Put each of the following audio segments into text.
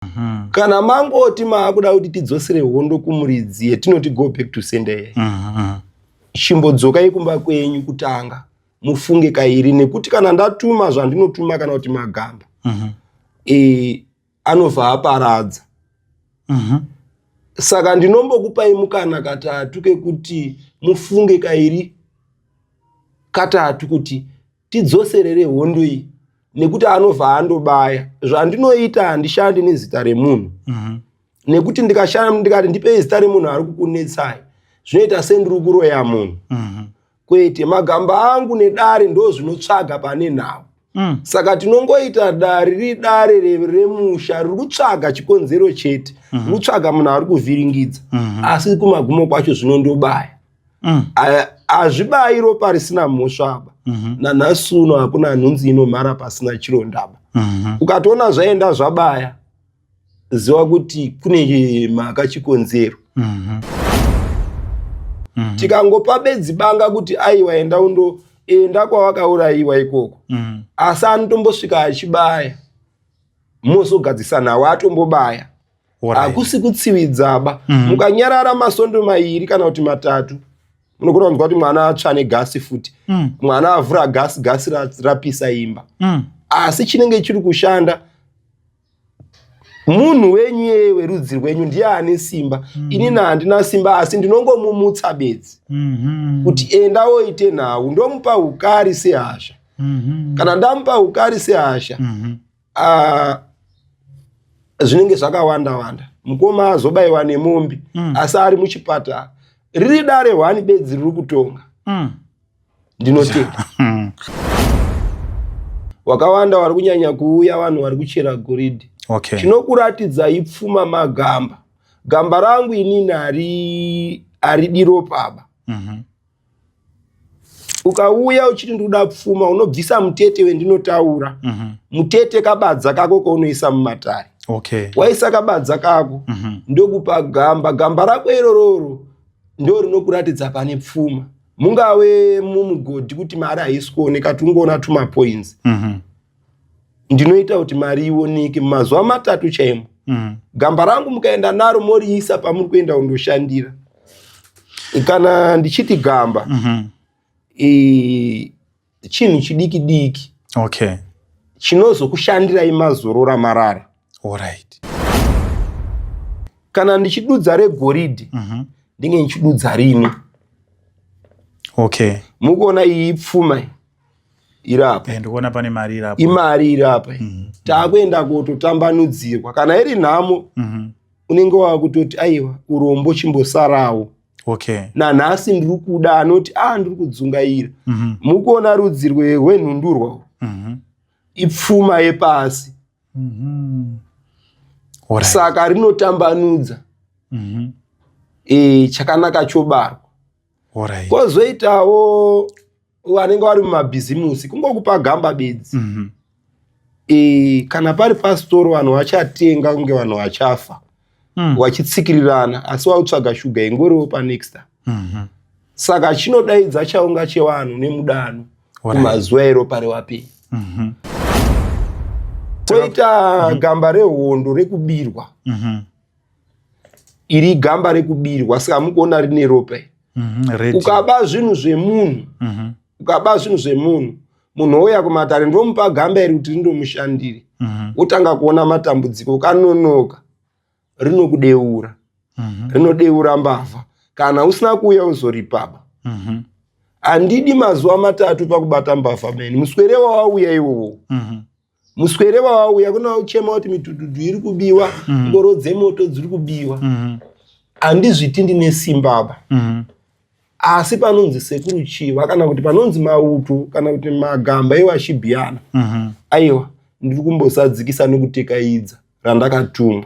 Mhm. kana mangoti maakuda kuti tidzosere hondo kumuridzi yetinoti go back to sendeye mhm. chimbodzokai kumba kwenyu kutanga mufunge kairi nekuti kana ndatuma zvandinotuma kana kuti magamba mhm. e, anobva aparadza saka ndinombokupai mukana katatu kekuti mufunge kairi katatu kuti tidzoserere hondo iyi nekuti anobva andobaya zvandinoita handishandi nezita remunhu mhm. nekuti ndikashanda ndikati ndipei zita remunhu ari kukunetsai zvinoita sendiri kuroya munhu mhm. kwete magamba angu nedare ndo zvinotsvaga pane nhau mm. saka tinongoita dare riri dare remusha riri kutsvaga chikonzero chete mhm. riri kutsvaga munhu ari kuvhiringidza asi kumagumo kwacho zvinondobaya mm. hazvibayi ropa risina mhosvaba mm -hmm. nanhasi uno hakuna nhunzi inomhara pasina chirondaba mm -hmm. ukatoona zvaenda zvabaya ziva kuti kune mhaka chikonzero mm -hmm. mm -hmm. tikangopa bedzi banga kuti aiwa enda undo enda kwawakaurayiwa ikoko mm -hmm. asi anotombosvika achibaya mozogadzisa nawo atombobaya hakusi kutsividzaba mhm. mukanyarara masondo mairi kana kuti matatu munogona kunzwa kuti mwana atsva negasi futi mm. mwana avhura gasi gasi rapisa imba mm. asi chinenge chiri kushanda munhu wenyu yeye werudzi rwenyu ndiye ane simba mm. ini na handina simba asi ndinongomumutsa bedzi mm -hmm. kuti enda woite nhau ndomupa ukari sehasha mm -hmm. kana ndamupa ukari sehasha mm -hmm. uh, zvinenge zvakawanda wanda mukoma azobaiwa nemombe mm. asi ari muchipatara riri dare hwani bedzi riri kutonga mm. ndinotenda hmm. wakawanda wari kunyanya kuuya vanhu vari kuchera goridhi okay. chinokuratidzai pfuma magamba gamba rangu inini ari ari diro paba mm -hmm. ukauya uchiti ndikuda pfuma unobvisa mutete wendinotaura mm -hmm. mutete kabadza kako kaunoisa mumatare okay. waisa kabadza kako mm -hmm. ndokupa gamba gamba rako irororo ndo rinokuratidza pane pfuma mungave mumugodhi kuti mari haisi kuoneka tungoona tumapoinzi mm -hmm. ndinoita kuti mari ioneke mazuva matatu chaimo mm. gamba rangu mukaenda naro moriisa pamuri kuenda kundoshandira kana ndichiti gamba mm -hmm. e, chinhu chidiki diki okay. chinozokushandirai mazorora marara right. kana ndichidudza regoridhi mm -hmm. ndinge ndichidudza rini okay. mukuona iyi pfuma iri apa eh, ndikuona pane mari iri apa imari iri apa mm -hmm. takuenda kutotambanudzirwa kana iri nhamo mm -hmm. unenge wakutoti aiwa urombo chimbosarawo okay. nanhasi ndiri kuda anoti a ah, ndiri kudzungaira mm -hmm. mukuona rudzi rwenhundurwa mm -hmm. ipfuma yepasi mm -hmm. Right. saka rinotambanudza mm -hmm. e, chakanaka chobarwa Alright. Kozoitawo vanenge vari mumabhizimusi kungokupa gamba bedzi. Mm -hmm. E, kana pari pasitoro vanhu vachatenga kunge vanhu vachafa mm. wachitsikirirana asi wautsvaga shuga ingoriwo panexta mm -hmm. saka chinodaidza chaunga chevanhu nemudano kumazuva ero pari wapei mm -hmm. toita mm -hmm. gamba rehondo rekubirwa mm -hmm. iri igamba rekubirwa saka hamukuona rine ropa mhm, ukaba zvinhu zvemunhu mhm. ukaba zvinhu zvemunhu munhu ouya kumatare ndomupa gamba iri kuti rindomushandire mhm. wotanga kuona matambudziko ukanonoka rinokudeura rinodeura mbavha kana usina kuuya uzoripaba handidi mazuva matatu pakubata mbavha meni muswere wawauya iwowo muswere wawauya kuna uchema kuti mitududu iri kubiwa mhm. ngoro mm -hmm. dzemoto dziri kubiwa mhm. handizviti mm -hmm. ndine simba apa mm -hmm. asi panonzi sekuru chiva kana kuti panonzi mauto kana kuti magamba iwo achibiyana mm -hmm. aiwa ndiri kumbosadzikisa nekutekaidza randakatumwa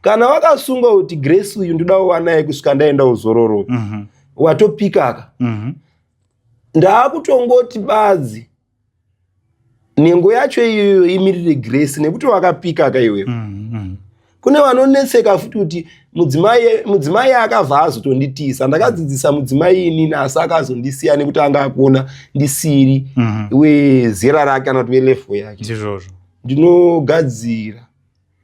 kana wakasunga kuti grace uyu ndoda wanaye kusvika ndaenda uzororo mm -hmm. watopikaka mm -hmm. ndaakutongoti badzi nhengo yacho iyoyo imirire grace nekuti wakapika ka iwewe mm, mm. kune vanonetseka futi kuti mudzimai akabva azotonditiisa ndakadzidzisa mudzimai inini asi akazondisiya nekuti anga akuona ndisiri mm -hmm. wezera rake kana kuti velefo yake ndinogadzira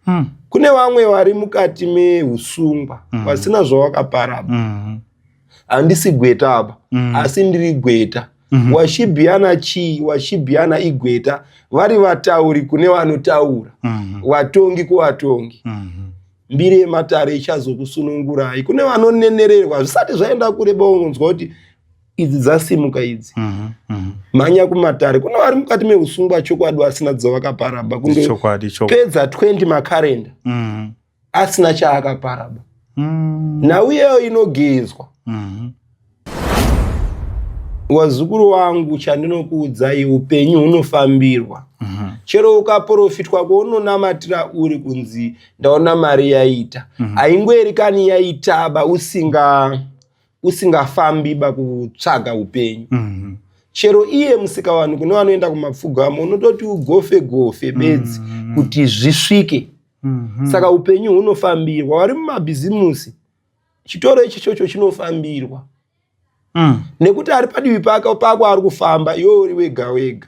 mm. kune vamwe vari mukati meusungwa mm. vasina zvavakapara mm. handisi gweta apa mm. asi ndiri gweta mm -hmm. washibhiyana chii washibhiyana igweta vari vatauri kune vanotaura mm -hmm. vatongi kuvatongi mm -hmm mbiri yematare ichazokusunungurai kune vanonenererwa zvisati zvaenda kure baunonzwa kuti idzi dzasimuka idzi mhm, mhm. mhanya kumatare kune vari mukati meusungwa chokwadi vasina dzavakaparaba kungopedza 20 makarenda mhm. asina chaakaparaba mm. nhau iyeyo inogezwa wazukuru wangu chandinokuudzai upenyu hunofambirwa mhm. chero ukaprofitwa kwaunonamatira uri kunzi ndaona mari yaita mhm. haingoerikani yaitaba usinga usingafambi bakutsvaga upenyu mm -hmm. chero iye musikavanhu kune vanoenda kumapfugamo unototi ugofe gofe bedzi mm -hmm. kuti zvisvike mm -hmm. saka upenyu hunofambirwa vari mumabhizimusi chitoro ichi chocho chinofambirwa mm. nekuti ari padivi pake pako ari kufamba iwe uri wega wega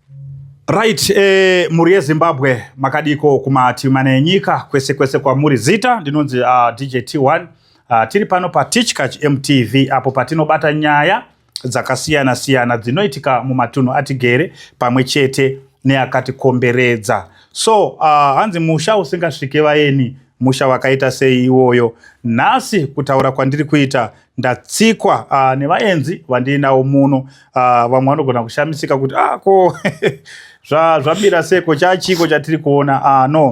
Right, eh, mhuri yeZimbabwe makadiko kumativi mana enyika kwese kwese kwamuri zita ndinonzi uh, ah, DJ T1 uh, ah, tiri pano paTichkach MTV apo patinobata nyaya dzakasiyana siyana dzinoitika mumatunhu atigere pamwe chete neakatikomberedza so uh, hanzi musha usingasvike vayeni musha wakaita sei iwoyo nhasi kutaura kwandiri kuita ndatsikwa uh, nevaenzi vandiinawo muno uh, vamwe vanogona kushamisika kuti ah, ko zvabira zva seko chachiko chatiri kuona uh, no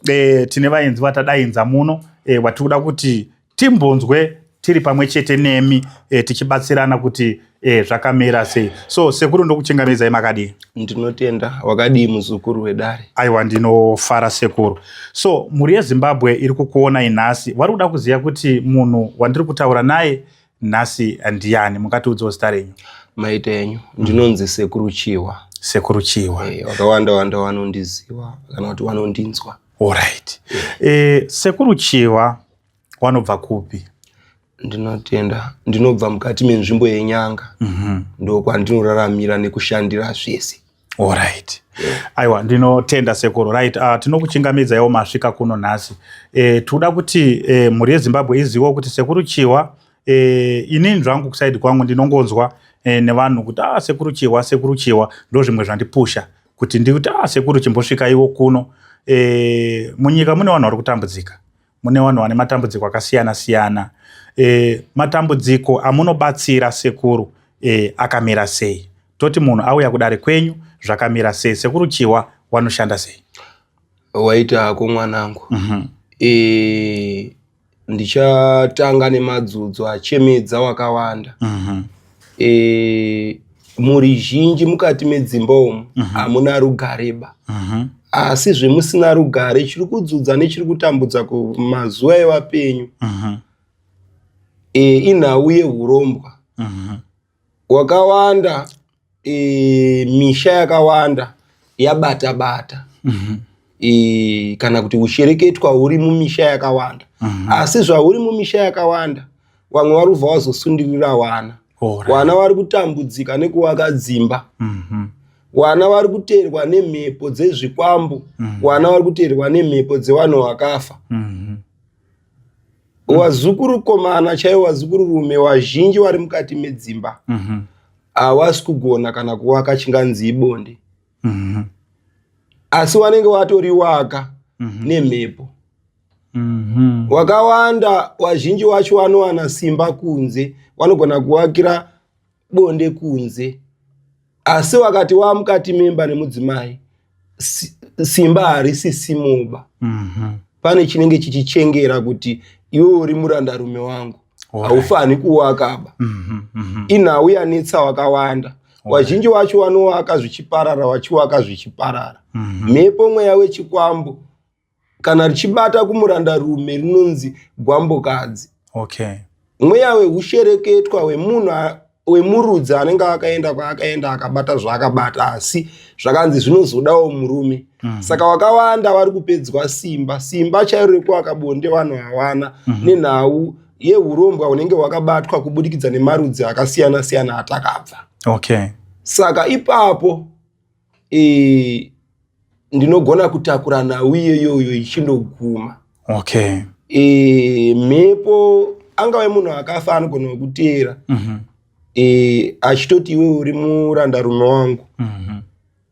e, tine vaenzi vatadainza muno e, eh, vatiri kuda kuti timbonzwe tiri pamwe chete nemi e, tichibatsirana kuti Eh, zvakamira sei so sekuru ndokuchengamedzai makadii ndinotenda wakadii muzukuru wedare aiwa ndinofara sekuru so mhuri yezimbabwe iri kukuonai nhasi vari kuda kuziva kuti munhu wandiri kutaura naye nhasi ndiani mungatiudzawo zita renyu maita enyu ndinonzi sekuru chihwa sekuru chihwa hey, eh, vakawanda wanda vanondiziva kana kuti vanondinzwa allright yeah. e, eh, sekuru chihwa wanobva kupi ndinotenda ndinobva mukati menzvimbo yenyanga mm -hmm. ndokwandinoraramira nekushandira zvese orit aiwa ndinotenda sekuru right uh, ah, tinokuchingamidza iwo masvika kuno nhasi e, tikuda kuti e, mhuri yezimbabwe izivo kuti sekuru chihwa e, eh, inini zvangu kusaidi kwangu ndinongonzwa e, nevanhu kuti ah, sekuru chihwa sekuru chihwa ndo zvimwe zvandipusha kuti ndikuti ah, sekuru chimbosvika iwo kuno e, munyika mune vanhu vari kutambudzika mune vanhu vane matambudziko akasiyana siyana e, matambudziko amunobatsira sekuru e, akamira sei toti munhu auya kudare kwenyu zvakamira sei sekuru chiwa wanoshanda sei waita hako mwanangu mm -hmm. e, ndichatanga nemadzudzo achemedza wakawanda mm -hmm. e, mhuri zhinji mukati medzimba umu mhm. hamuna uh -huh. rugareba uh mhm. -huh asi zvemusina rugare chiri kudzudza nechiri kutambudza kumazuva evapenyu mhm. e, inhau yeurombwa mhm. wakawanda e, misha yakawanda yabata bata mhm. e, kana kuti ushereketwa huri mumisha yakawanda asi zvahuri mumisha yakawanda vamwe vari kubva vazosundirira wana wana vari kutambudzika nekuvaka dzimba mhm. wana vari kuteerwa nemhepo dzezvikwambo mhm. wana vari kuteerwa nemhepo dzevanhu vakafa mhm. wazukuru komana chaivo wazukuru rume wazhinji vari mukati medzimba havasi kugona kana kuvaka chinganzi ibonde asi wanenge watoriwaka nemhepo Mhm. wakawanda wazhinji wacho wanowana simba kunze wanogona kuvakira bonde kunze asi wakati wamukati memba nemudzimai si- simba harisi simoba Mhm. pane chinenge chichichengera kuti iwe uri murandarume wangu Alright. haufani kuwakaba Mhm. Mhm. inhau yanetsa wakawanda wazhinji wacho wanowaka zvichiparara wachiwaka zvichiparara Mhm. mhepo mweya wechikwambo kana richibata kumuranda rume rinonzi gwambokadzi okay mweya wehushereketwa wemunhu wemurudzi anenge akaenda kwaakaenda akabata zvaakabata asi zvakanzi zvinozodawo murume mm -hmm. saka wakawanda vari kupedzwa simba simba chairo rekuaka bonde vanhu hawana mm -hmm. nenhau yehurombwa hunenge hwakabatwa kubudikidza nemarudzi akasiyana siyana atakabva okay saka ipapo e, ndinogona kutakura nhau iyoyoyo ichindoguma okay. e, mhepo angave munhu akafa anogona kukuteera mm -hmm. e, achitoti iwe uri muranda rume wangu mm -hmm.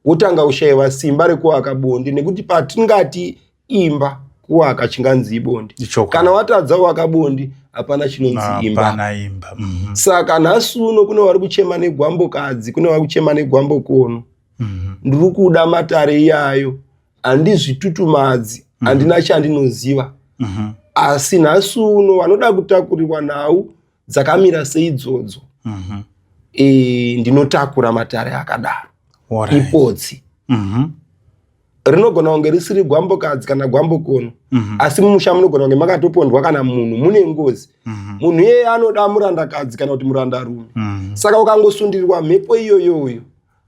wotanga ushayiwa simba rekuaka bonde nekuti patingati imba kuwaka chinganzi ibonde kana watadza waka bondi hapana chinonzi imba mhm. saka nhasi uno kune vari kuchema negwambokadzi kune vari kuchema negwambokono mhm. ndiri kuda matare iyayo handizvitutumadzi mhm. handina chandinoziva asi nhasi uno vanoda kutakurirwa nhau dzakamira seidzodzo e, ndinotakura matare akadaro ipotsi rinogona kunge risiri gwambokadzi kana gwambokono mm -hmm. asi mumusha munogona kunge makatopondwa kana munhu mune ngozi mm -hmm. munhu iyeye anoda murandakadzi kana kuti murandarume mm -hmm. saka ukangosundirirwa mhepo iyoyoyo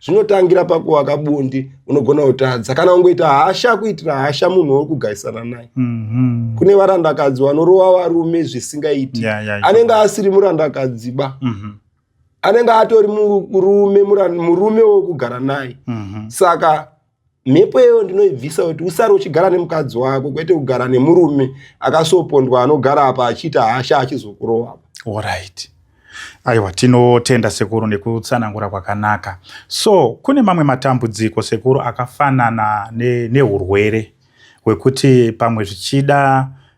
zvinotangira pakuwaka bundi unogona kutadza kana ungoita hasha kuitira hasha munhu wori kugarisana naye mm -hmm. kune varandakadzi vanorova varume zvisingaiti yeah, yeah, anenge asiri murandakadzi ba mm -hmm. anenge atori murume murume wokugara naye mhm. saka mhepo iyoyo ndinoibvisa kuti usare uchigara nemukadzi wako kwete kugara nemurume akasopondwa anogara apa achiita hasha achizokurova orit aiwa tinotenda sekuru nekutsanangura kwakanaka so kune mamwe matambudziko sekuru akafanana neurwere ne hwekuti pamwe zvichida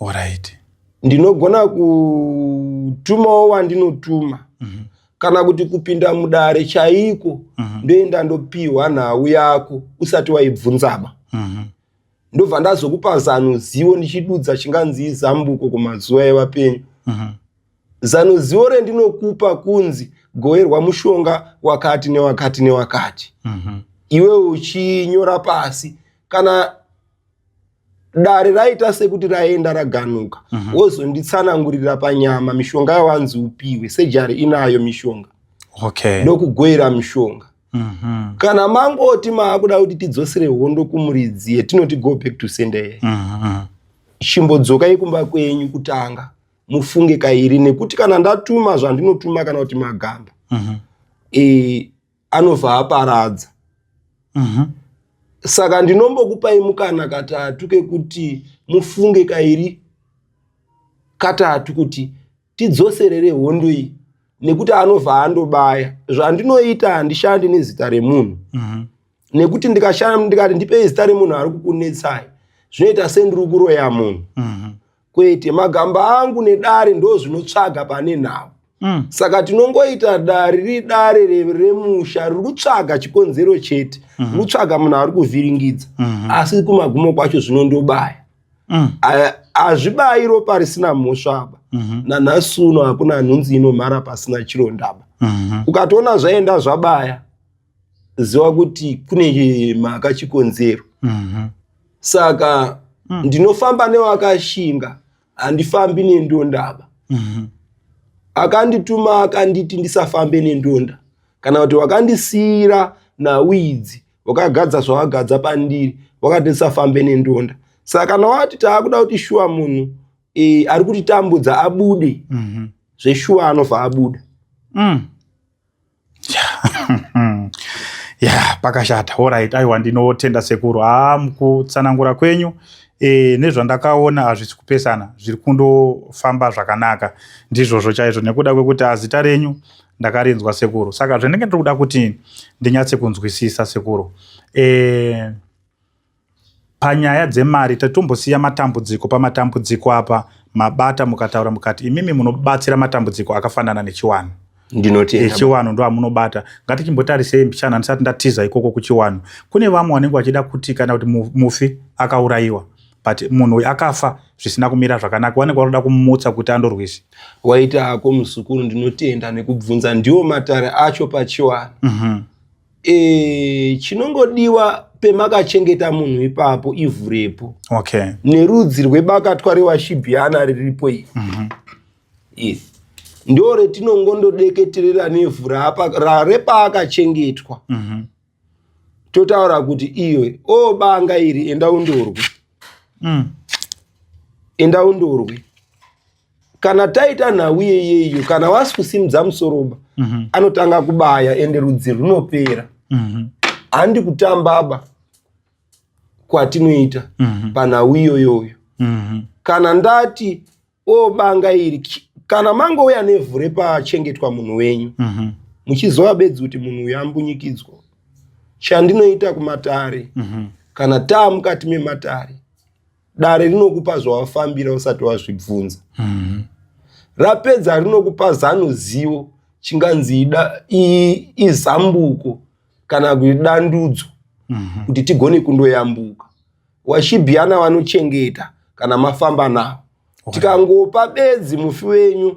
Alright. Ndinogona kutumawo wandinotuma mm -hmm. kana kuti kupinda mudare chaiko mm -hmm. ndoenda ndopihwa nhau yako usati waibvunzaba mm -hmm. ndobva ndazokupa zano zivo ndichidudza chinganzi zambuko kumazuva evapenyu mm -hmm. zano zivo rendinokupa kunzi goerwa mushonga wakati newakati newakati mm -hmm. iwe uchinyora pasi kana dare raita sekuti raenda raganuka mhm. wozonditsanangurira panyama mishonga yawanzi upiwe sejari inayo mishonga okay. ndokugoira mishonga mhm. kana mangoti maakuda kuti tidzosere hondo kumuridzi yetinoti go back to sendeye mhm. chimbodzokai kumba kwenyu kutanga mufunge kairi nekuti kana ndatuma zvandinotuma kana kuti magamba e, anobva aparadza mm -hmm. saka ndinombokupai mukana katatu kekuti mufunge kairi katatu kuti tidzoserere hondo iyi nekuti anobva andobaya zvandinoita handishandi nezita remunhu mm -hmm. nekuti ndikashanda ndikati ndipei zita remunhu ari kukunetsai zvinoita sendiri kuroya munhu mm -hmm. kwete magamba angu nedare ndo zvinotsvaga pane nhau mm. saka tinongoita dare riri dare remusha riri kutsvaga chikonzero chete mm -hmm. riri kutsvaga munhu ari kuvhiringidza mm -hmm. asi kumagumo kwacho zvinondobaya mm. hazvibayi ropa risina mhosva aba mm -hmm. nanhasi uno hakuna nhunzi inomhara pasina chirondaba mm -hmm. ukatoona zvaenda zvabaya ziva kuti kune mhaka chikonzero mhm. saka mm. ndinofamba newakashinga handifambi nendondaba mhm. akandituma akanditi ndisafambe nendonda kana kuti wakandisiyira nawidzi wakagadza zvawakadza pandiri wakati ndisafambe nendonda saka kana wati taakuda kuti shuwa munhu e, ari kutitambudza abude mm -hmm. zveshuwa anobva abuda mm. ya pakashata orit aiwa ndinotenda sekuru haa mukutsanangura kwenyu e, nezvandakaona hazvisi kupesana zviri kundofamba zvakanaka ndizvozvo chaizvo nekuda kwekuti azita renyu ndakarinzwa sekuru saka zvendenge ndiri kuda kuti ndinyatse kunzwisisa sekuru e, Panyaya dzemari tatombosiya matambudziko pamatambudziko apa mabata mukataura mukati imimi munobatsira matambudziko akafanana nechiwanhu ndinoti echiwanhu ndo amunobata ngatichimbotarisei mbichana ndisati ndatiza ikoko kuchiwanhu kune vamwe vanenge vachida kuti kana kuti mufi akaurayiwa but munhu uyu akafa zvisina kumira zvakanaka wanenge wanoda kumutsa kuti andorwise waita hako muzukuru ndinotenda nekubvunza ndiwo matare acho pachiwanhu mm -hmm. e, chinongodiwa pemakachengeta munhu ipapo ivhu repo okay. nerudzi rwebakatwa rewashibhiana riripo iri mm -hmm. yes. ndo retinongondodeketerera nevhu repaakachengetwa mm -hmm. totaura kuti iyo o banga iri enda undorwe mm. enda undorwe kana taita nhau yeyeyo kana wasi kusimudza musoroba mm -hmm. anotanga kubaya ende rudzi runopera mm -hmm. handi kutambaba kwatinoita mm -hmm. panhau iyoyoyo mm -hmm. kana ndati o banga iri kana mangouya nevhu repachengetwa munhu wenyu mm -hmm. muchiziva bedzi kuti munhu uyu ambunyikidzwa chandinoita kumatare mm -hmm. kana taa mukati mematare dare rinokupa zvawafambira usati wazvibvunza mm-hmm. rapedza rinokupa zano zivo chinganzi izambuko kana kuti dandudzo mm-hmm. kuti tigone kundoyambuka washibhiyana vanochengeta kana mafamba navo tikangopa bedzi mufi wenyu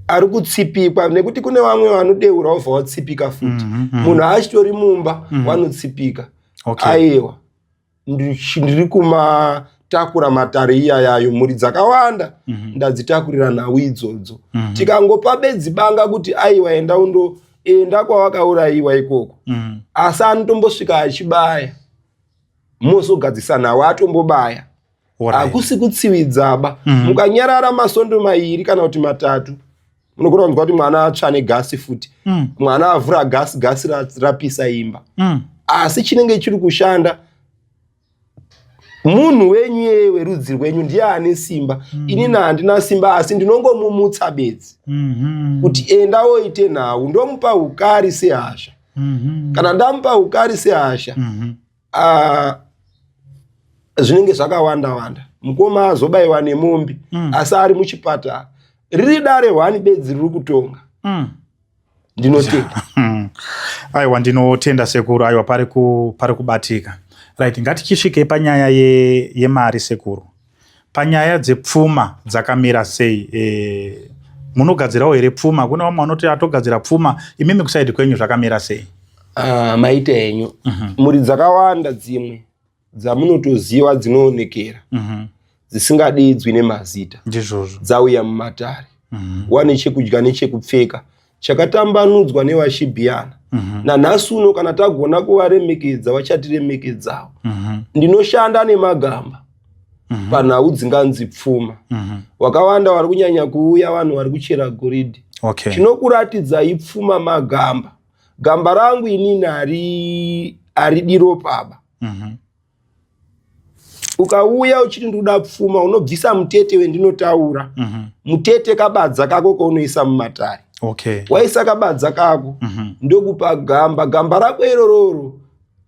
ari kutsipikwa nekuti kune vamwe vanodeura wobva watsipika futi mhm, mhm. munhu aachitori mumba mhm. wanotsipika aiwa ndiri kumatakura matare iya yayo mhuri dzakawanda mm -hmm. ndadzitakurira nhau idzodzo mm -hmm. tikangopa bedzi banga kuti aiwa enda undo enda kwawakaurayiwa ikoko mm -hmm. asi anotombosvika achibaya mozogadzisa nhau atombobaya hakusi kutsividzaba mm -hmm. mukanyarara masondo mairi kana kuti matatu munogona kunzwa kuti mwana atsva negasi futi mm. mwana avhura gasi gasi rapisa imba mm. asi chinenge chiri kushanda munhu wenyu yeye werudzi rwenyu ndiye ane simba mm. inini handina simba asi ndinongomumutsa bedzi mm -hmm. kuti enda woite nhau ndomupa ukari sehasha mm -hmm. kana ndamupa ukari sehasha mm -hmm. ah, zvinenge zvakawanda wanda mukoma azobaiwa nemombe mm. asi ari muchipatara riri dare hwani bedzi riri kutonga mm. ndinotenda hmm. aiwa ndinotenda sekuru aiwa pari kubatika right ngatichisvikei panyaya yemari ye sekuru Panyaya dzepfuma dzakamira sei? Eh, munogadzirawo here pfuma? Kune vamwe vanoti atogadzira pfuma, imimi kusaidi kwenyu zvakamira sei? Ah, maita enyu mm -hmm. mhuri dzakawanda dzimwe dzamunotoziva dzinoonekera mm -hmm. dzisingadidzwi nemazita ndizvozvo dzauya mumatare mm -hmm. wane chekudya nechekupfeka chakatambanudzwa nevashibhiyana mm -hmm. nanhasi uno kana tagona kuvaremekedza vachatiremekedzawo mm -hmm. ndinoshanda nemagamba mm -hmm. panhau dzinganzi pfuma mm -hmm. wakawanda vari kunyanya kuuya vanhu vari kuchera goridhi okay. chinokuratidza ipfuma magamba gamba rangu inini ari ari diro paba mm -hmm. ukauya uchiti ndikuda pfuma unobvisa mutete wendinotaura mm -hmm. mutete kabadza kako kaunoisa mumatare okay. waisa kabadza kako mm -hmm. ndokupa gamba gamba rako irororo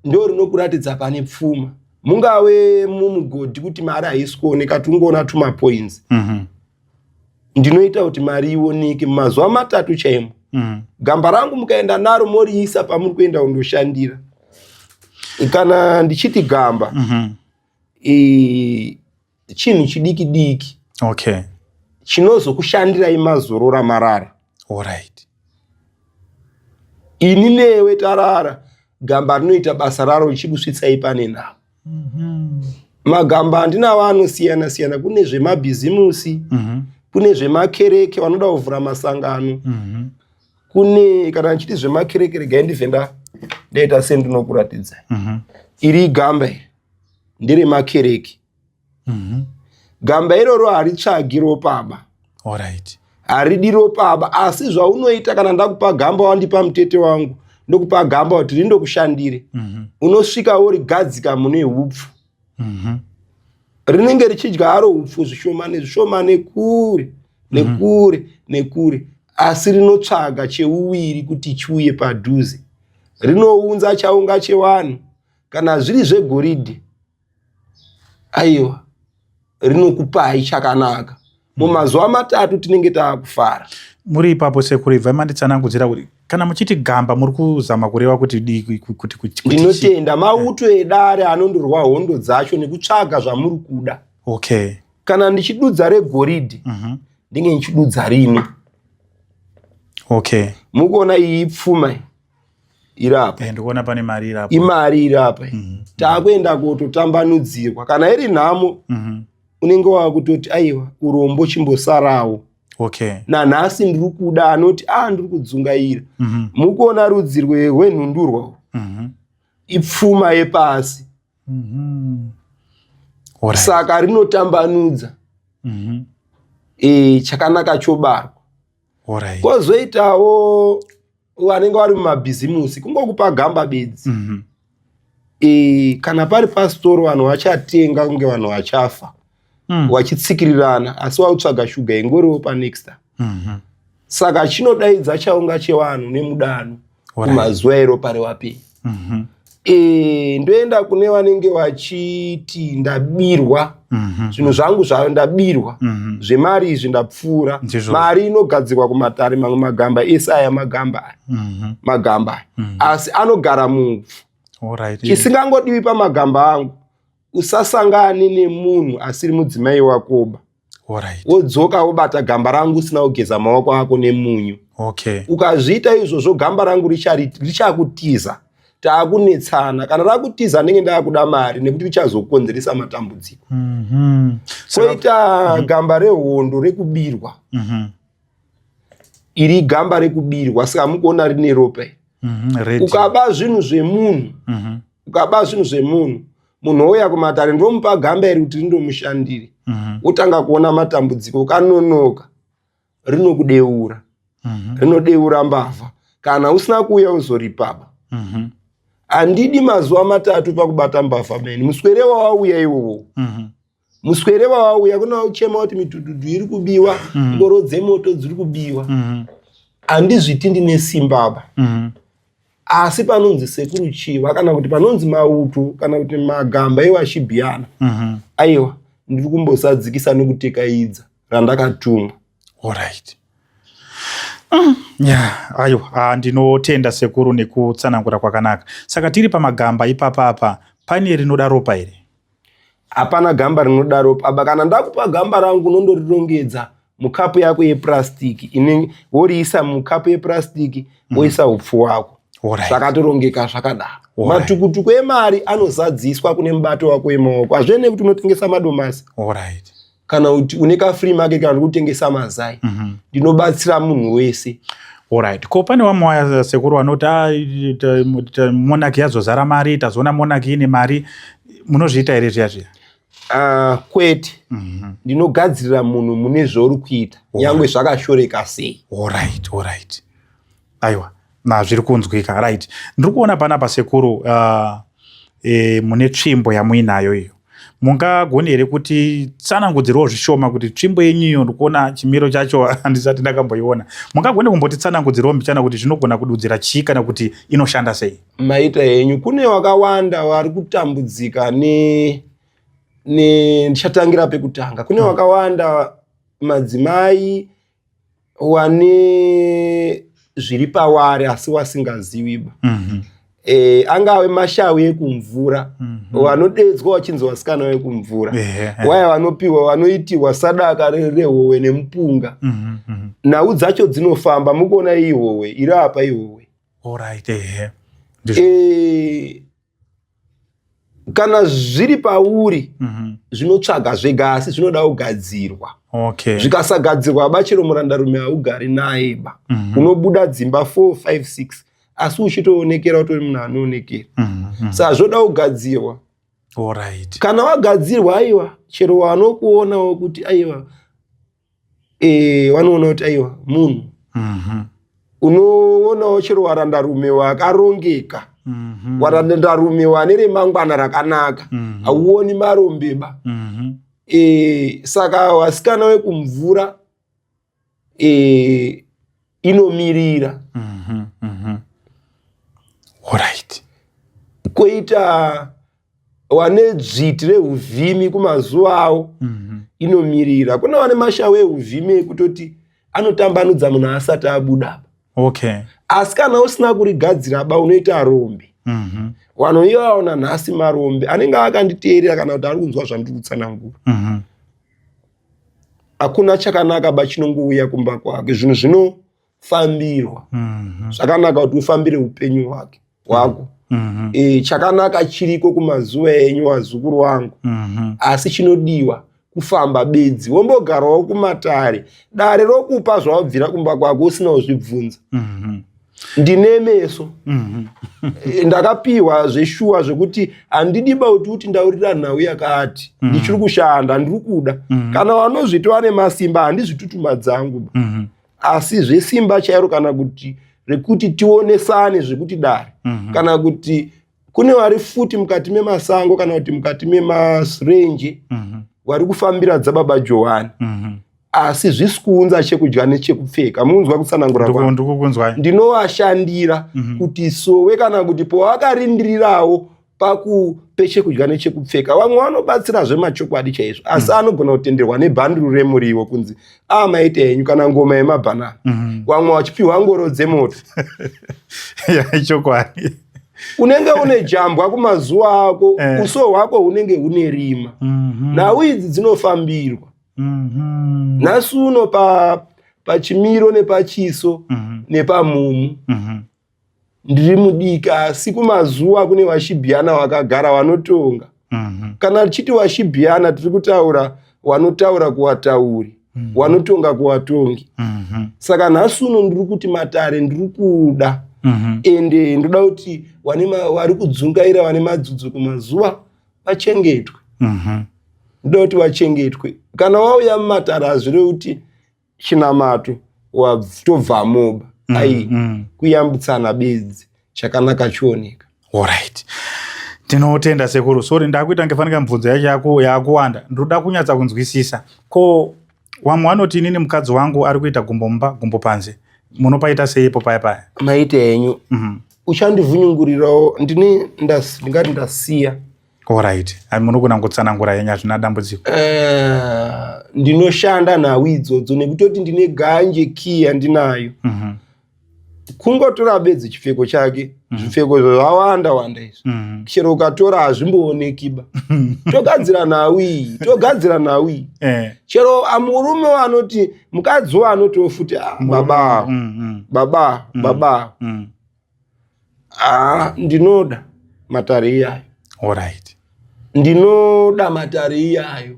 ndo rinokuratidza pane pfuma mungave mumugodhi kuti mari haisi kuoneka tungoona tumapoints mm -hmm. ndinoita kuti mari ioneke mazuva matatu chaimo mm. gamba rangu mukaenda naro moriisa pamuri kuenda kundoshandira kana ndichiti gamba mm -hmm. e, chinhu chidiki diki okay. chinozokushandirai mazorora marara right. ini newe tarara gamba rinoita basa raro richikusvitsai pane navo Mhm. magamba handinawo anosiyana siyana kune zvemabhizimusi Mhm. kune zvemakereke vanoda kuvhura masangano Mhm. kune kana ndichiti zvemakereke regai ndibve nda ndaita sendinokuratidzai Mhm. iri igamba iri nderemakereke mhm. gamba iroro haritsvagi ropaba right. haridi ropaba asi zvaunoita kana ndakupa gamba wandipa mutete wangu ndokupa gamba kuti rindokushandire mm -hmm. unosvika worigadzika mune upfu mm -hmm. rinenge richidya haro upfu zvishomane zvishomane kure mhm. nekure mm -hmm. nekure asi rinotsvaga cheuviri kuti chiuye padhuze rinounza chaunga chewanhu kana zviri zvegoridhe aiwa rinokupai chakanaka mumazuva matatu tinenge taakufara muri ipapo sekuru ibvai manditsanangudzira kuti kana muchiti gamba muri kuzama kureva kuti kuti kuti ndinotenda mauto edare anondorwa hondo dzacho nekutsvaga zvamuri kuda okay kana ndichidudza regoridhi mhm. ndinge ndichidudza rini okay mukuona iyi pfuma iri apa eh, ndikuona pane mari iri apa imari iri apa mm -hmm. takuenda kototambanudzirwa kana iri nhamo mm -hmm. unenge wakutoti aiwa urombo chimbosarawo okay. nanhasi ndiri kuda anoti a ah, ndiri kudzungaira mm -hmm. mukuona rudzi rwenhundurwa mm -hmm. ipfuma yepasi mm -hmm. Right. saka rinotambanudza mm -hmm. e, chakanaka chobarwa Alright. Kozoitawo vanenge vari mumabhizimusi kungokupa gamba bedzi. Mm -hmm. E, kana pari pasitoro vanhu vachatenga kunge vanhu vachafa mm. wachitsikirirana asi wautsvaga shuga yengoriwo panext mm -hmm. saka chinodaidza chaunga chevanhu nemudano kumazuvairo pari wapi mhm. eh, ndoenda kune vanenge vachiti ndabirwa mhm. zvinhu zvangu zvavo ndabirwa mhm. zvemari izvi ndapfuura mari inogadzirwa kumatare mamwe magamba ese aya magamba aya magamba aya asi anogara mubvu chisingangodiwi pamagamba angu usasangane nemunhu asiri mudzimai wakoba wodzoka wobata gamba rangu usina kugeza maoko ako nemunyu okay. ukazviita izvozvo gamba rangu richakutiza taakunetsana kana rakutiza ndenge ndakuda mari nekuti richazokonzeresa matambudziko mm -hmm. koita mm -hmm. gamba rehondo rekubirwa mm -hmm. iri gamba rekubirwa saka mukuona rine ropa mm -hmm. ukaba zvinhu zvemunhu mm -hmm. ukaba zvinhu zvemunhu munhu ouya kumatare ndomupa gamba iri kuti rindomushandire mhm. wotanga kuona matambudziko ukanonoka rinokudeura mhm. rinodeura mbavha kana usina kuuya uzoripaba mhm. handidi mazuva matatu pakubata mbavha meni muswere wawauya iwowo muswere wawauya kuna uchema kuti mitududu iri kubiwa mm. ngoro mm. dzemoto dziri kubiwa mm. handizviti ndine simba apa mm. asi panonzi sekuru chiva kana kuti panonzi mauto kana kuti magamba iwo achibiyana mm -hmm. aiwa ndiri kumbosadzikisa nekutekaidza randakatumwa orit mm. yeah, aiwa ah, ndinotenda sekuru nekutsanangura kwakanaka saka tiri pamagamba ipapa apa pane rinoda ropa here hapana gamba rinodaro baba kana ndakupa gamba rangu unondorirongedza mukapu yako yepurasitiki inenge woriisa mukapu yepurasitiki mhm. woisa upfu wako zvakatorongeka zvakadaro matukutuku emari anozadziswa kune mubato wako wemaoko hazvene kuti unotengesa madomasi kana kuti une ka free market kana kutengesa mazai mhm. ndinobatsira munhu wese Alright. Ko pane vamwe waya sekuru vanoti ah, monaki yazozara mari tazoona monaki ine mari munozviita here zviya zviya ah, kwete mhm. ndinogadzirira munhu mune zvauri kuita nyangwe zvakashoreka sei aiwa na zviri kunzwika right ndiri kuona panapa sekuru uh, e, mune tsvimbo yamuinayo iyo mungagoni here kuti tsanangudzirwo zvishoma kuti tsvimbo yenyu iyo ndikuona chimiro chacho handisati ndakamboiona mungagoni kumboti tsanangudzirwo mbichana kuti zvinogona kududzira chii kana kuti inoshanda sei maita henyu kune wakawanda wari kutambudzika ne ne ndichatangira pekutanga kune hmm. wakawanda madzimai wane zviri pawari asi wasingaziwi ba mm -hmm. e, angave mashawi ekumvura mm -hmm. wanodeedzwa wachinzi wasikana wekumvura yeah, yeah. waya wanopiwa wanoitirwa sadaka rehowe nemupunga mm -hmm. nhau dzacho dzinofamba mukuona ihowe iri apa ihowe right, yeah. e, kana zviri pauri mm -hmm. zvinotsvaga zvega asi zvinoda kugadzirwa okay. zvikasagadzirwa bachero murandarume haugari naye ba mm -hmm. unobuda dzimba 4 5 6 asi uchitoonekera utori munhu anoonekera mm -hmm. sa zvoda kugadzirwa Alright. kana wagadzirwa aiwa chero wanokuonawo kuti aiwa eh, vanoona kuti aiwa munhu mhm. unoonawo chero warandarume wakarongeka mhm. warandarume wane remangwana rakanaka mhm. hauoni marombeba eh, saka wasikana wekumvura eh, inomirira mm -hmm, mm -hmm. Alright. koita wane dzviti reuvhimi kumazuva awo mhm. inomirira kuna wane mashawo euvhimi ekutoti anotambanudza munhu asati abuda okay. asi kana usina kurigadzira ba unoita rombe mhm. vanhu iyo vaona nhasi marombe anenge akanditeerera kana kuti ari kunzwa zvandiri kutsanangura mhm. hakuna chakanaka ba chinongouya kumba kwake zvinhu zvino fambirwa mhm. zvakanaka kuti ufambire upenyu hwake hwako mhm. e, chakanaka chiriko kumazuva enyu wazukuru wangu mhm. asi chinodiwa kufamba bedzi wombogarawo kumatare dare rokupa zvawabvira kumba kwako usina kuzvibvunza ndine meso e, ndakapiwa zveshuwa zvekuti handidi bauti kuti ndaurira nhau yakati ndichiri kushanda ndiri kuda kana vanozviti vane masimba handizvitutuma dzangu asi zvesimba chairo kana kuti rekuti tionesane zvekuti dare mm -hmm. kana kuti kune vari futi mukati memasango kana kuti mukati memasirenje mm -hmm. vari kufambira dzababa johani mm -hmm asi zvisi kuunza chekudya nechekupfeka munzwa kutsanangura ndinovashandira mm -hmm. kuti sowe kana kuti pawakarindirirawo pakupe chekudya nechekupfeka vamwe vanobatsira zvemachokwadi chaizvo asi mm. anogona kutenderwa nebhanduru remuriwo kunzi a ah, maita henyu kana ngoma yemabhanana mm -hmm. vamwe vachipiwa ngoro dzemoto ichokwadi yeah, unenge une jambwa kumazuva ako eh. uso hwako hunenge hune rima mm -hmm. nhau idzi dzinofambirwa mm -hmm. nhasi uno pa pachimiro nepachiso mm -hmm. nepamumu mm -hmm. ndiri mudiki asi kumazuva kune vashibhiyana vakagara vanotonga mhm. kana tichiti vashibhiyana tiri kutaura wanotaura kuwatauri mhm. wanotonga kuwatongi mhm. saka nhasi uno ndiri kuti matare ndiri kuda ende ndoda kuti vari kudzungaira vane madzudzo kumazuva vachengetwe ndoda kuti vachengetwe kana wauya mumatare hazvirevi kuti chinamato tobva moba mm, ai mm. kuyambutsana bedzi chakanaka chioneka orit tinotenda sekuru sori ndakuita ngefanika mibvunzo yacho yakuwanda ndinoda kunyatsa kunzwisisa ko wamwe wanoti inini mukadzi wangu ari kuita gumbo mumba gumbo panze munopaita seipo paya paya maita henyu mm -hmm. uchandivhunyungurirawo ndini ndingati ndasiya Alright. Munogona kutsanangura henyu hazvina dambudziko. Uh, ndinoshanda nhau idzodzo nekutoti ndine ganje key yandinayo. Mm -hmm. Kungotora bedzi chipfeko chake. Mm -hmm. Zvipfeko zvawanda wanda izvi. Mm -hmm. Chero ukatora hazvimbooneki ba. togadzira nhau iyi, togadzira nhau iyi. Eh. Chero amurume anoti mukadzi wanoti ofuti ah, baba. Mm -hmm. Baba, mm -hmm. baba. Mm -hmm. Ah, ndinoda matare iyayo. All right. Ndinoda matare iyayo.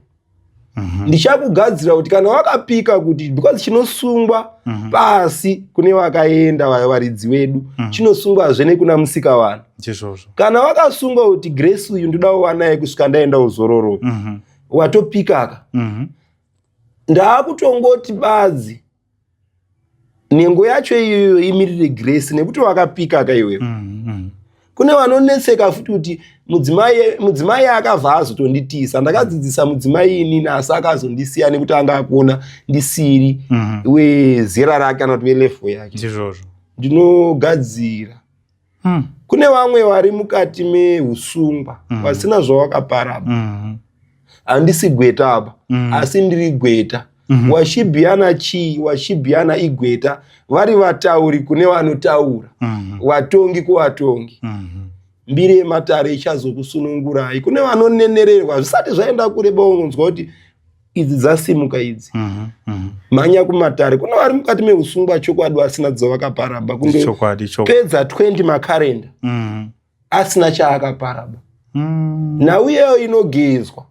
Mm -hmm. Ndichakugadzira kuti kana wakapika kuti because chinosungwa mm -hmm. pasi kune vakaenda vayo varidzi wedu mm -hmm. chinosungwa zvene kuna musika vanhu. Chizvozvo. Kana wakasungwa kuti Grace uyu ndoda kuva naye kusvika ndaenda uzororo. Mm -hmm. Watopikaka. Mm -hmm. Ndaakutongoti badzi. nhengo yacho iyoyo imirire grace nekuti wakapika ka iwewe mm, mm. kune vanonetseka futi kuti mudzimai akabva azotonditiisa ndakadzidzisa mudzimai inini asi akazondisiya nekuti anga akuona ndisiri mm-hmm. wezera rake kana kuti velefo yake ndinogadzira mm. kune vamwe vari mukati meusungwa mm. vasina zvavakapara mm. handisi gweta apa mm. asi ndiri gweta mm -hmm. washibhiyana chii washibhiyana igweta vari vatauri kune vanotaura mm -hmm. vatongi kuvatongi mm -hmm mbiri yematare ichazokusunungurai kune vanonenererwa zvisati zvaenda kure baunonzwa kuti idzi dzasimuka idzi mhm, mhm. mhanya kumatare kune vari mukati meusungwa chokwadi asina dzovakaparaba kungopedza 20 makarenda mhm. asina chaakaparaba mm. nhau iyeyo inogezwa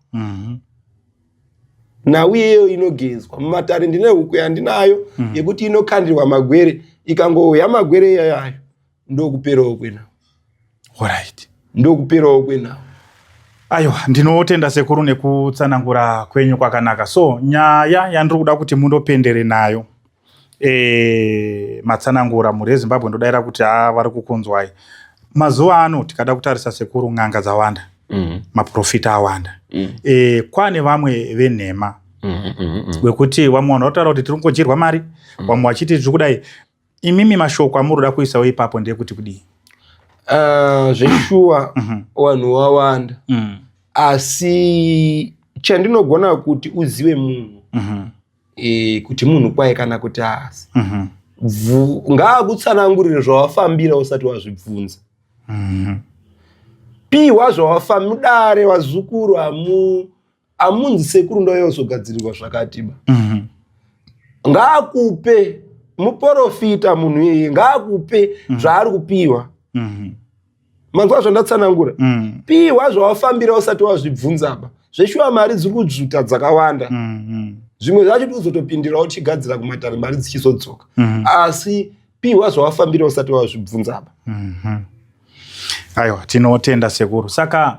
nhau iyeyo inogezwa mumatare ndine huku yandinayo yekuti inokandirwa magwere ikangouya magwere iyayayo ndokuperawo kwenawo orit ndokuperawo kwenawo aiwa ndinotenda sekuru nekutsanangura kwenyu kwakanaka so nyaya yandiri kuda kuti mundopendere nayo e, matsanangura mhuri yezimbabwe ndodaira kuti a vari kukunzwai mazuva ano tikada kutarisa sekuru n'anga dzawanda mm -hmm. maprofita awanda mm -hmm. e, kwane vamwe venhema mm -hmm. wekuti vamwe vanhu vataura kuti tiri kungodyirwa mari mm -hmm. vamwe vachiti tiri kudai Imimi mashoko amuri kuda kuisawo ipapo ndeyekuti kudii? Uh, zveshuwa mhm. vanhu wawanda mm. asi chandinogona kuti uzive munhu mhm. e, kuti munhu kwaye kana kuti haasi mhm. ngaakutsanangurire zvawafambira usati wazvibvunza pihwa zvawafamudare vazukuru hamu amunzi sekuru ndouya kuzogadzirirwa zvakatiba mhm. ngaakupe muporofita munhu iyeye ngaakupe mhm. zvaari kupiwa mhm. manzwa zvandatsanangura piwa zvawafambira usati wazvibvunzaba zveshuwa mari dziri kudzvuta dzakawanda zvimwe zvacho tikuzotopindirawo tichigadzira kumatare mari dzichizodzoka asi piwa zvawafambira usati wazvibvunzaba aiwa tinotenda sekuru saka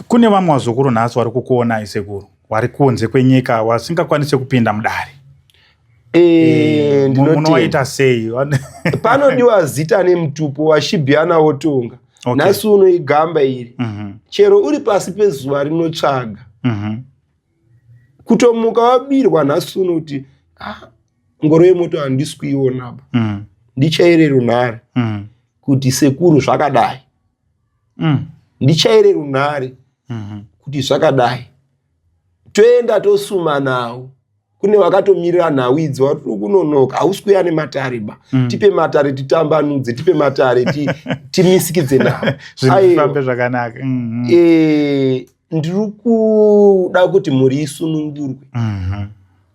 Kune vamwe vazukuru nhasi vari kukuonai sekuru, wari kunze kwenyika wasingakwanise kupinda mudare munowaita sei? Panodiwa zita nemutupo washibiana wotonga okay. Nhasi uno igamba iri mm -hmm. Chero uri pasi pezuva rinotsvaga mm -hmm. Kutomuka wabirwa nhasi uno kuti ah, ngoro yemoto handisi kuionaba mm -hmm. Ndichaire runhare mm -hmm. kuti sekuru zvakadai mm. ndichaire runhare mm -hmm. kuti zvakadai toenda tosuma nawo kune vakatomirira nhau idzi vari kunonoka hausi kuya nematare ba mm. tipe matare titambanudze tipe matare timisikidze navo zvifambe zvakanaka mm, mm. E, ndiri kuda kuti mhuri isunungurwe mhm.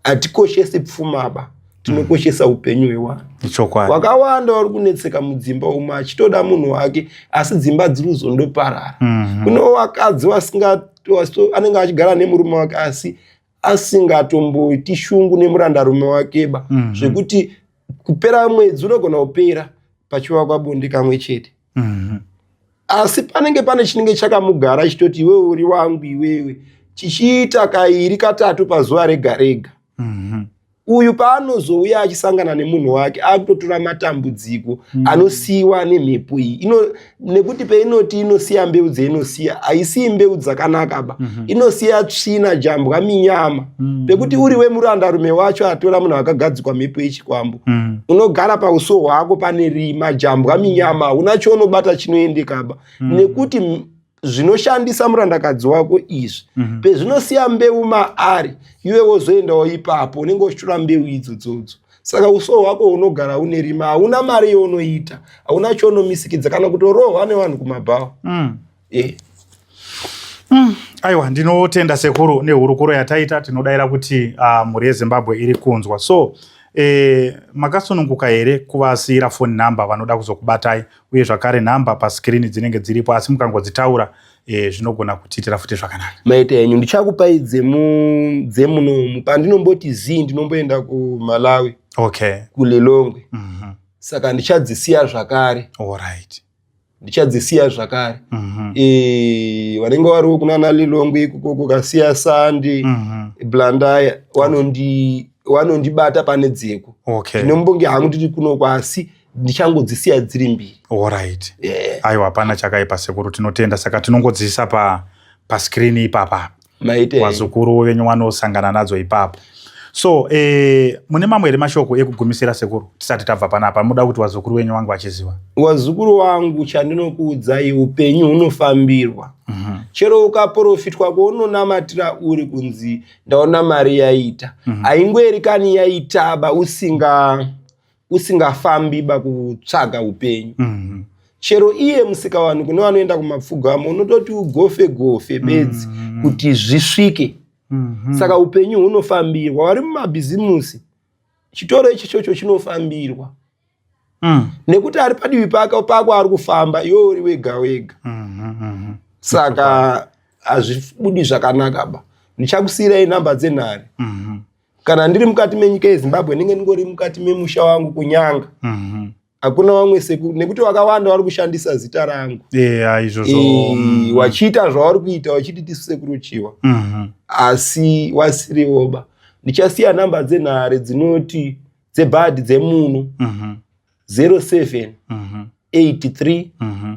hatikoshesi pfumaba tinokoshesa upenyu hwewanhu wakawanda wari kunetseka mudzimba umo achitoda munhu wake asi dzimba dziri kuzondoparara mhm. kunewo vakadzi anenge achigara nemurume wake asi asingatomboiti shungu nemurandarume wakeba mm -hmm. zvekuti kupera mwedzi unogona kupera pachivakwa bonde kamwe chete mm -hmm. asi panenge pane chinenge chakamugara chitoti iwewe uri wangu iwewe chichiita kairi katatu pazuva rega rega mm -hmm. uyu paanozouya achisangana nemunhu wake akutotora matambudziko mm. anosiyiwa nemhepo iyi ino nekuti peinoti inosiya mbeu dzeinosiya haisiyi mbeu dzakanaka ba mm -hmm. inosiya tsvina jambwa minyama mm. pekuti uri wemurandarume wacho atora munhu akagadzikwa mhepo yechikwambo mm. unogara pauso hwako pane rima jambwa minyama hauna chounobata chinoendekaba mm. nekuti zvinoshandisa murandakadzi wako izvi mm -hmm. pezvinosiya mbeu maari iwe wozoendawo ipapo unenge uchitora mbeu idzo dzodzo saka uso hwako unogara une rima hauna mari younoita hauna chounomisikidza kana kutorohwa nevanhu kumabhawa mm. yeah. mm. aiwa ndinotenda sekuru nehurukuro yataita tinodaira kuti uh, mhuri yezimbabwe iri kunzwa so eh, makasununguka here kuvasiyira foni number vanoda kuzokubatai uye zvakare nhamba paskirini dzinenge dziripo asi mukangodzitaura e, zvinogona kutiitira futi zvakanaka maita enyu ndichakupai dzemunomu pandinomboti zii ndinomboenda kumalawi okay. kulilongwe mm -hmm. saka ndichadzisiya zvakare right. ndichadzisiya zvakare mm -hmm. e, vanenge variwo kunana lilongwe ikoko kukasiya sandi mm -hmm. blandaya wanondi okay. wanondibata pane dzeko ndinombonge okay. hangu ndiri kuno kwasi ndichangodzisiya dziri mbiri orit yeah. aiwa hapana chakaipa sekuru tinotenda saka tinongodzisa pa paskrini ipapa vazukuru venyu vanosangana nadzo ipapo so eh, mune mamwe here mashoko ekugumisira sekuru tisati tabva panapa muda kuti wazukuru wenyu wangu achiziva wazukuru wangu chandinokuudzai upenyu hunofambirwa mm -hmm. chero ukaprofitwa kwaunonamatira uri kunzi ndaona mari yaita mm -hmm. haingoerikani yaitaba usinga usingafambi ba kutsvaga upenyu mm -hmm. chero iye musikawani kune vanoenda kumapfugamo unototi ugofe gofe bedzi mm -hmm. kuti zvisvike mm -hmm. saka upenyu hunofambirwa vari mumabhizimusi chitoro ichi chocho chinofambirwa mm. nekuti ari padivi pako pako ari kufamba iwe uri wega wega mm -hmm. mm -hmm. saka hazvibudi zvakanaka ba ndichakusiyirai nhamba dzenhare mm -hmm. kana ndiri mukati menyika yezimbabwe ndenge ndingori mukati memusha wangu kunyanga mhm. hakuna mm -hmm. vamwe sekuru nekuti vakawanda vari kushandisa zita rangu yeah, e, mm. wachiita zvavari kuita wachiti tisu sekuru chiwa mm -hmm. asi wasirivoba ndichasiya nhamba dzenhare dzinoti dzebhadhi dzemuno mm -hmm. 07 mm -hmm. 83 mm -hmm.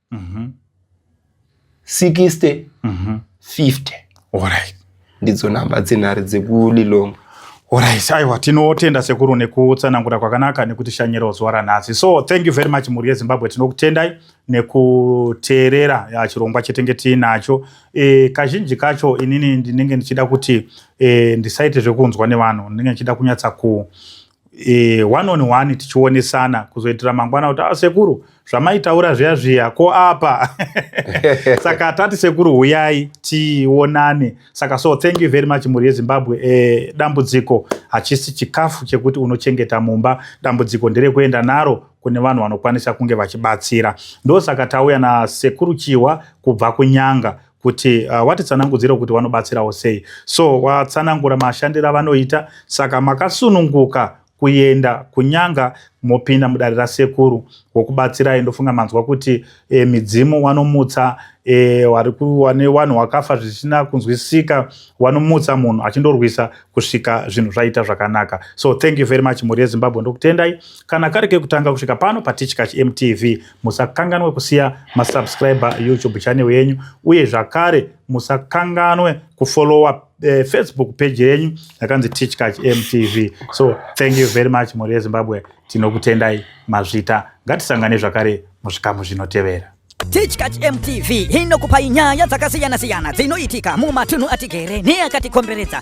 mm-hmm. 60 mm-hmm. 50 alright ndidzo nhamba dzenhare dzekulilongwe Alright, aiwa tinotenda sekuru nekutsanangura kwakanaka nekutishanyirawo zuva ranhasi. So thank you very much mhuri yeZimbabwe, tinokutendai nekuteerera ya chirongwa chetenge tiinacho. E, kazhinji kacho inini ndinenge ndichida kuti e, ndisaite zvekunzwa nevanhu, ndinenge ndichida kunyatsa ku e, one on one tichionesana kuzoitira mangwana kuti ah, sekuru zvamaitaura zviya zviya ko apa saka tati sekuru huyai tionane saka so thank you very much mhuri yezimbabwe e, dambudziko hachisi chikafu chekuti unochengeta mumba dambudziko nderekuenda naro kune vanhu vanokwanisa kunge vachibatsira ndosaka tauya nasekuru chihwa kubva kunyanga kuti uh, watitsanangudzira kuti wanobatsirawo sei so watsanangura mashandiro avanoita saka makasununguka kuenda kunyanga mopinda mudare rasekuru wokubatsirai ndofunga manzwa kuti e, midzimu wanomutsa e, wane wanhu wakafa zvisina kunzwisika wanomutsa munhu achindorwisa kusvika zvinhu zvaita zvakanaka so thank you very much mhuri yezimbabwe ndokutendai kana kari kekutanga kusvika pano patitya chmtv musakanganwe kusiya masubscriber youtube channel yenyu uye zvakare musakanganwe kufollowa eh, facebook page yenyu yakanzi tichkach mtv so thank you very much mhuri yezimbabwe tinokutendai mazvita ngatisangane zvakare muzvikamu zvinotevera tichkach mtv inokupai nyaya dzakasiyana-siyana dzinoitika mumatunhu atigere neakatikomberedza